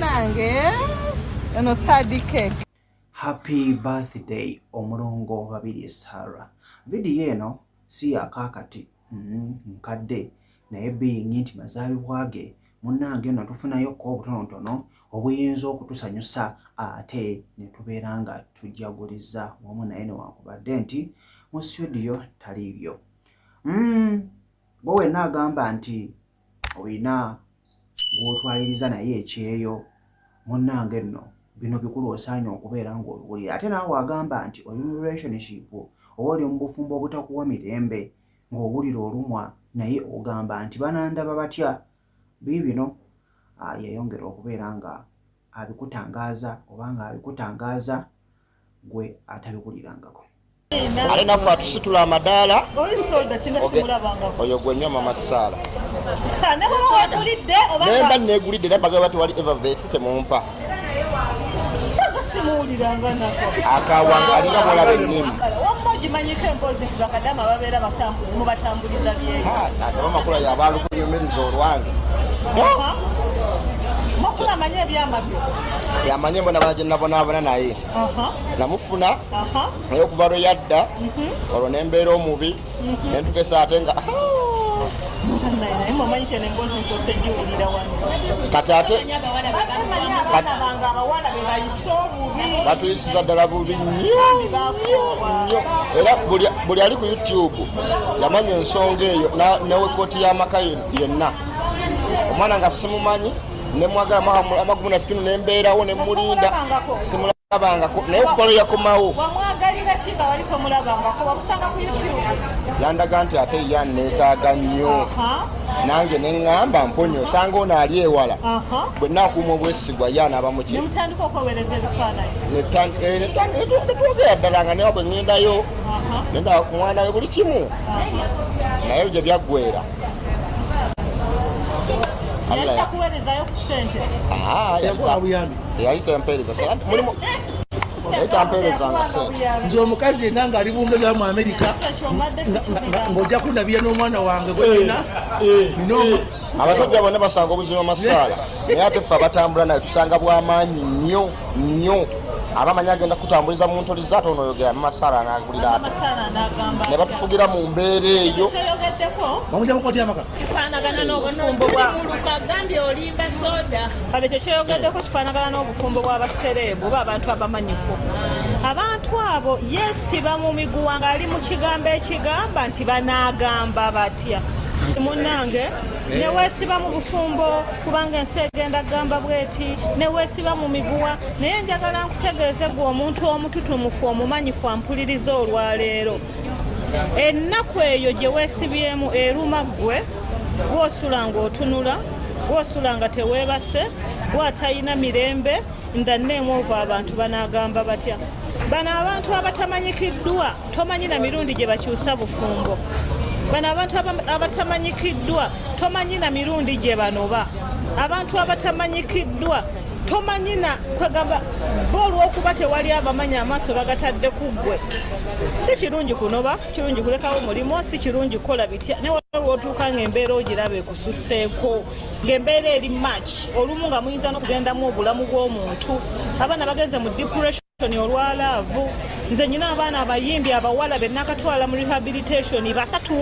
nange eno third cake happy birthday omulongo babiri sara vidiyo eno si yakakati mm-hmm, nkadde naye biyingi nti mazaalibwa ge munnange eno tufunayo ko obutonotono obuyinza okutusanyusa ate ne tubeera nga tujjaguliza wamu naye newankubadde nti mu situdiyo taliibyo mm, gwe wenna agamba nti olina gw'otwaliriza naye ekyeyo munnange nno bino bikulu osaanye okubeera ng'obiwulira ate naawe agamba nti oli mu relationship oba oli mu bufumbo obutakuwa mirembe ng'owulira olumwa naye ogamba nti banandaba batya biibino ah, yeyongera okubeera nga abikutangaaza oba nga abikutangaaza gwe atabiwulirangako ate naffe atusitula amadaala oyo gwe nyo mama saala nemba negulidde era bagala batewali evervesi temumpa akawanga alinga bwolaba ennimu kimanyiko emboozi nti bakadama babeera mubatambuliza byeyoamakula ah, yabalukuyumiriza olwange mukula manyi ebyama byo yamanyi embonabona gye nabonaabona naye namufuna naye okuva lwe yadda mhm. olwo nembeera omubi mhm. nentukesa ate nga kati ate batuyisiza ddala bubi nnyo era buli ali ku youtube yamanya ensonga eyo newekooti y'amaka yenna omwana nga simumanyi nemwaga amagumu nakitunu nembeerawo nemulinda simulabangako naye okukolo yakomawo yandaga nti ate ya neetaaga nnyo nange neŋŋamba mponya osanga ono ali ewala bwe nakuuma obwesigwa ye anaaba mukinetwogera eh, ddala nga newa bwe ŋŋendayo nenda kumwana we buli kimu naye gye byaggwera yali tempeereza mulimu naye tampeerezanga sente nze omukazi yenna ngaali bungezayo mu amerika ng'ojja kundabira n'omwana wange gweyina eh, eh, eh. abasajja bonna basanga obuzima masaala naye ate ffe abatambula naye tusanga bwamaanyi nnyo nyo aba manyi agenda kutambuliza mu ntoli zate ono oyogera mumasaala anagulira ate ne batufugira mu mbeera eyo kyekyoyogeddeko kifaanagana n'obufumbo bw'abasereebu oba abantu abamanyifu abantu abo yesiba mu miguwa ng'ali mu kigambo ekigamba nti banaagamba batya munange newesiba mu bufumbo kubanga ensi egenda kugamba bweti siba mu miguwa naye njagala nkutegeeze gwe omuntu omututumufu omumanyifu ampuliriza olwaleero ennaku eyo gye weesibyemu eruma ggwe gwosula ng'otunula gwosula nga teweebase gwatalina mirembe ndanneemu ova abantu banaagamba batya bano abantu abatamanyikiddwa tomanyi na mirundi gye bakyusa bufumbo bano abantu abatamanyikiddwa tomanyi na mirundi gye banoba abantu abatamanyikiddwa tomanyi na kwegamba bo olwokuba tewali abamanyi amaaso bagatadde ku ggwe si kirungi kunoba si kirungi kulekawo mulimu si kirungi kukola bitya naye waliwootuuka ngaembeera ogiraba ekususeeko ngaembeera eri mach olumu nga muyinza nokugendamu obulamu bw'omuntu abaana bagenze mu depression toni olwa laavu nze nyina abaana abayimbi abawala benakatwala mu rehabilitation basatu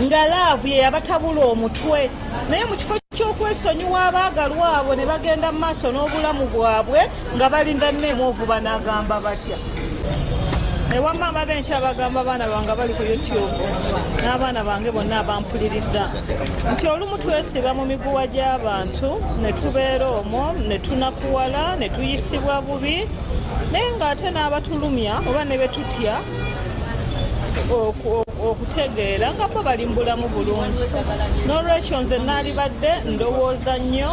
nga laavu yeyabatabula omutwe naye mu kifo kyokwesonyiwa abaagalwa abo ne bagenda mu maaso n'obulamu bwabwe nga balinda neemu ovuba n'agamba batya ewamma abaga enkya bagamba abaana bange bali ku youtube n'abaana bange bonna abampuliriza nti olumu twesiba mu miguwa gy'abantu ne tubeera omwo ne tunakuwala ne tuyisibwa bubi naye ng'ate n'abatulumya oba ne be tutya okutegeera nga bo bali mu bulamu bulungi n'olwekyo nze naalibadde ndowooza nnyo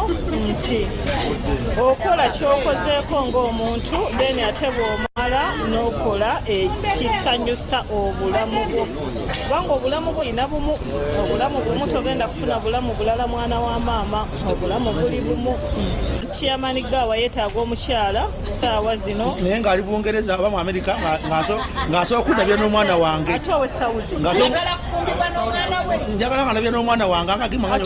nti okola kyokozeeko ng'omuntu then ate bw'omala n'okola ekisanyusa obulamu bwo kubanga obulamu bulina bumu obulamu bumu togenda kufuna bulamu bulala mwana wa maama obulamu buli bumu kiyamani gaawa yetaaga omukyala saawa zino naye ngaali bungereza aba mu amerika ng'asobola kundabya n'omwana wange ate owe saudi njagala nga ndabya n'omwana wange angagimanga